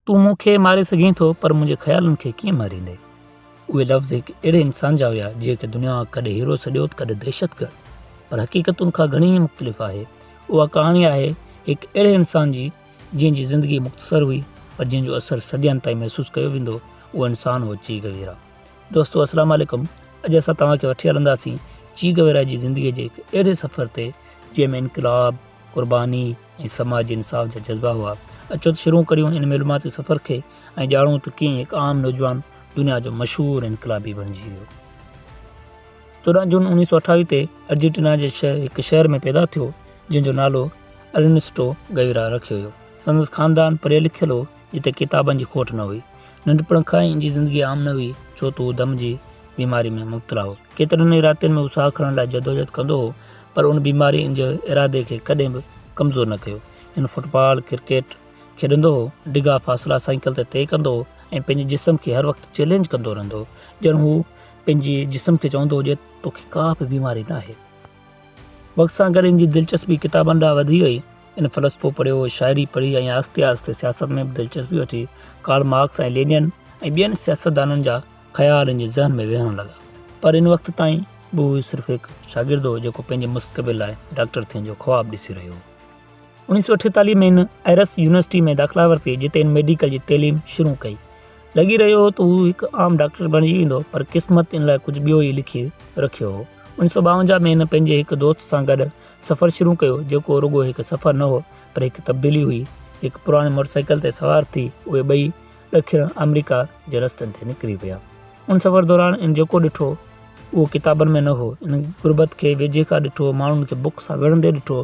تون مون کي ماري سگهين ٿو پر منهنجي خيالن کي ڪيئن ماريندين؟ اهي لفظ هڪ اهڙي انسان جا هيا جنهن کي دنيا ڪڏهن هيرو سڏيو ته ڪڏهن دهشتگرد پر حقيقت ان کان گهڻي ئي مختلف آهي. اها ڪهاڻي آهي هڪ اهڙي انسان جي جنهن جي زندگي مختصر هئي پر جنهن جو اثر صدين تائين محسوس ڪيو ويندو اهو انسان هو چيغ ويرا. دوستو السلام عليڪم اڄ اسان توهان کي وٺي هلنداسين چيغ ويرا جي زندگي جي هڪ اهڙي سفر تي جنهن ۾ انقلاب، قرباني، ۽ سماجي انصاف جا جذبا هئا. اچو ته شروع ڪريون ان معلوماتي سفر کي ۽ ڄاڻون ته ڪيئن هڪ عام نوجوان دنيا جو مشهور انقلابي بڻجي ويو. چوڏهن جون اڻويهه سؤ اٺاويهه تي ارجنٽينا جي هڪ شهر ۾ پيدا ٿيو جنهن جو نالو ارنسٽو گيورا رکيو ويو. سندس خاندان پڙهيل لکيل هو جتي ڪتابن جي کوٽ نه هئي. ننڍپڻ کان ئي ان جي زندگي عام نه هئي ڇو ته هو دم جي بيماري ۾ مبتلا هو. ڪيترن ئي راتين ۾ هو ساهه کڻڻ لاء جدوجهد ڪندو هو. پر ان بيماري ان جي ارادي کي ڪڏهن به ڪمزور نه ڪيو. هن فٽ بال، ڪرڪيٽ، کيڏندو هو، ڊگها فاصلا سائيڪل تي طئي ڪندو هو ۽ پنهنجي جسم کي هر وقت چئلينج ڪندو رهندو هو، ڄڻ هو پنهنجي جسم کي چوندو هجي ته تو کي ڪا به بيماري ناهي. وقت سان گڏ ان جي دلچسپي ڪتابن ڏانهن وڌي وئي. هن فلسفو پڙهيو، شاعري پڙهي ۽ آهستي آهستي سياست ۾ به دلچسپي وٺي. ڪارل مارڪس ۽ لينن ۽ ٻين سياستدانن جا خيال ان جي ذهن ۾ ويهڻ لڳا پر ان وقت تائين به هو صرف هڪ شاگرد هو جيڪو پنهنجي مستقبل لاء ڊاڪٽر ٿيڻ جو خواب ڏسي رهيو هو انيس سو اٺيتاليهه ۾ هن ايرس يونيورسٽي ۾ داخلا ورتي جتي هن ميڊيڪل جي تعليم شروع ڪئي لڳي رهيو هو ته هو هڪ عام ڊاڪٽر بڻجي ويندو پر قسمت ان لاء ڪجهه ٻيو ئي لکي رکيو هو انيس سو ٻاونجاهه ۾ هن پنهنجي هڪ دوست سان گڏ سفر شروع ڪيو جيڪو رڳو هڪ سفر نه هو پر هڪ تبديلي هئي هڪ پراڻي موٽر سائيڪل تي سوار ٿي اهي ٻئي ڏکڻ آمريڪا جي رستن تي نڪري ويا. ان سفر دوران ان جيڪو ڏٺو، اهو ڪتابن ۾ نه هو. ان غربت کي ويجهي کان ڏٺو، ماڻهن کي بک سان وڙهندي ڏٺو،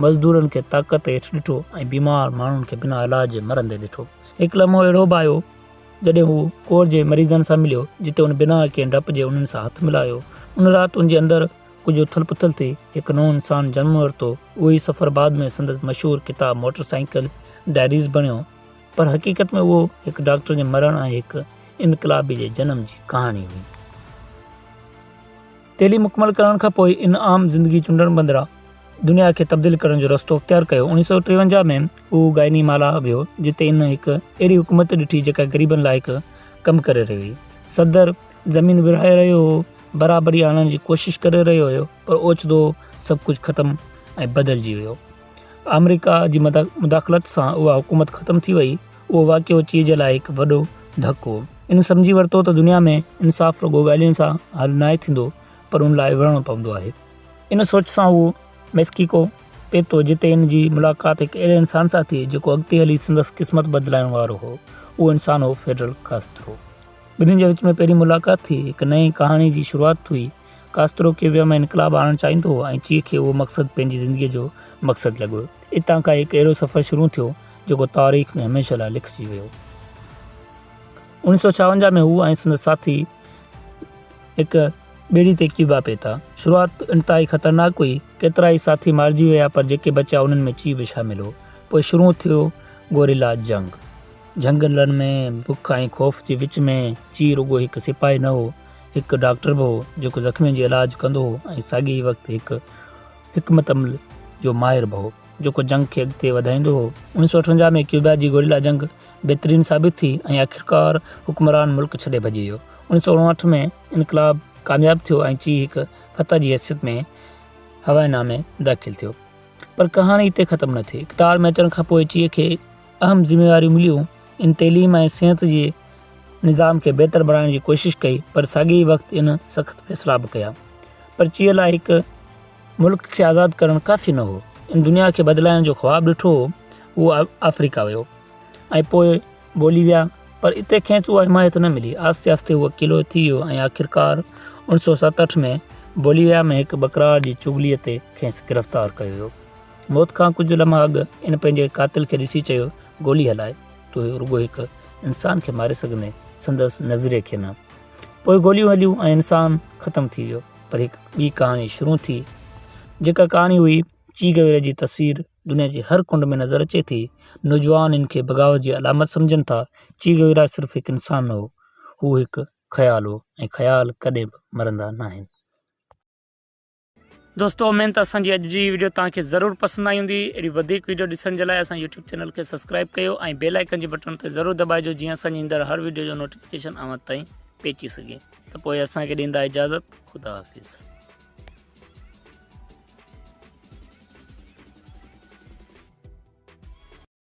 مزدورن کي طاقت هيٺ ڏٺو ۽ بيمار ماڻهن کي بنا علاج جي مرندي ڏٺو. هڪ لمحو اهڙو به آيو، جڏهن هو ڪور جي مريضن سان مليو، جتي ان بنا ڪنهن ڊپ جي انهن سان هٿ ملايو. ان رات ان جي اندر ڪجهه اٿل پٿل ٿي، هڪ نئون انسان جنم ورتو. اهو ئي سفر بعد ۾ سندس مشهور ڪتاب موٽر سائيڪل ڊائريز بڻيو. پر حقيقت ۾ اهو هڪ ڊاڪٽر جي مرڻ ۽ هڪ انقلابي جي جنم جي ڪهاڻي هئي. تعليم مڪمل ڪرڻ کان پوء ان عام زندگي چونڊڻ بدران دنيا کي تبديل ڪرڻ جو رستو اختيار ڪيو. اوڻيهه سؤ ٽيونجاهه ۾ هو گائني مالا ويو، جتي هن هڪ اهڙي حڪومت ڏٺي جيڪا غريبن لاء هڪ ڪم ڪري رهي هئي. صدر زمين ورهائي رهيو هو، برابري آڻڻ جي ڪوشش ڪري رهيو هيو، پر اوچتو سڀ ڪجهه ختم ۽ بدلجي ويو. آمريڪا جي مداخلت سان اها حڪومت ختم ٿي وئي، اهو واقعو چيء جي لاء هڪ وڏو ڌڪ هو. هن سمجهي ورتو ته دنيا ۾ انصاف رڳو ڳالهين سان حل ناهي ٿيندو پر ان لاء وڙهڻو پوندو آهي. ان سوچ سان هو ميڪسيڪو پهتو جتي هن جي ملاقات هڪ اهڙي انسان سان ٿي جيڪو اڳتي هلي سندس قسمت بدلائڻ وارو هو. اهو انسان هو فيڊرل ڪاسترو. ٻنهي جي وچ ۾ پهرين ملاقات ٿي هڪ نئين ڪهاڻي جي شروعات ٿي ڪاسترو ڪيوبا ۾ انقلاب آڻڻ چاهيندو هو ۽ چي کي اهو مقصد پنهنجي زندگيء جو مقصد لڳو. اتان کان هڪ اهڙو سفر شروع ٿيو، جيڪو تاريخ ۾ هميشه لاء لکجي ويو. اوڻيھ سؤ ڇاونجاھ ۾ هو ۽ سندس ساٿي هڪ ٻيڙي تي ڪيوبا پهتا. شروعات انتهائي خطرناڪ هئي. ڪيترائي ساٿي مارجي ويا پر جيڪي بچيا انهن ۾ چي به شامل هو. پوء شروع ٿيو گوريلا جنگ. جهنگلن ۾ بک ۽ خوف جي وچ ۾ چي رڳو هڪ سپاهي نه هو. هڪ ڊاڪٽر به هو جيڪو زخمين جي علاج ڪندو هو ۽ ساڳئي وقت هڪ حڪمت عمل جو ماهر به هو جيڪو جنگ کي اڳتي وڌائيندو هو. انويهه سؤ اٺونجاهه ۾ ڪيوبا جي گوريلا جنگ بهترين ثابت ٿي ۽ آخرڪار حڪمران ملڪ ڇڏي ڀڄي ويو. انويهه سؤ اڻاهٺ ۾ انقلاب ڪامياب ٿيو ۽ چي هڪ فتح جي حيثيت ۾ هوائي نا ۾ داخل ٿيو. پر ڪهاڻي اتي ختم نه ٿي. اقتدار ۾ اچڻ کانپوء چي کي اهم ذميواريون مليون. ان تعليم ۽ صحت جي نظام کي بهتر بڻائڻ جي ڪوشش ڪئي پر ساڳي ئي وقت ان سخت فيصلا به ڪيا پرچيء لاء هڪ ملڪ کي آزاد ڪرڻ ڪافي نه هو ان دنيا کي بدلائڻ جو خواب ڏٺو هو اهو آفريڪا ويو ۽ پوء بوليويا پر اتي کيس اها حمايت نه ملي آهستي آهستي هو اڪيلو ٿي ويو ۽ آخرڪار اوڻ سو ست اٺ ۾ بوليويا ۾ هڪ بڪرار جي چغلي تي کيس گرفتار ڪيو ويو موت کان ڪجهه لمحا اڳ ان پنهنجي قاتل کي ڏسي چيو گولي هلائي تون رڳو هڪ انسان کي ماري سگهندين سندس نظريي کي نه پوء گوليون هليون ۽ انسان ختم ٿي ويو پر هڪ ٻي ڪهاڻي شروع ٿي جيڪا ڪهاڻي هئي چي گويرا جي تصوير دنيا جي هر ڪنڊ ۾ نظر اچي ٿي نوجوان ان کي بغاوت جي علامت سمجهن ٿا چي گويرا صرف هڪ انسان نه هو هو هڪ خيال هو ۽ خيال ڪڏهن به مرندا ناهن دوستو امين ته اسان جي اڄ جي ويڊيو توهان کي ضرور پسند آئي هوندي اهڙي وڌيڪ ويڊيو ڏسڻ جي لاء اسان يوٽيوب چينل کي سبسڪرائب ڪيو ۽ بيل آئيڪن جي بٽڻ تي ضرور دٻائجو جيئن اسان جي ايندڙ هر ويڊيو جو نوٽيفڪيشن اوهان تائين پهچي سگهي ته پوء اسان کي ڏيندا اجازت خدا حافظ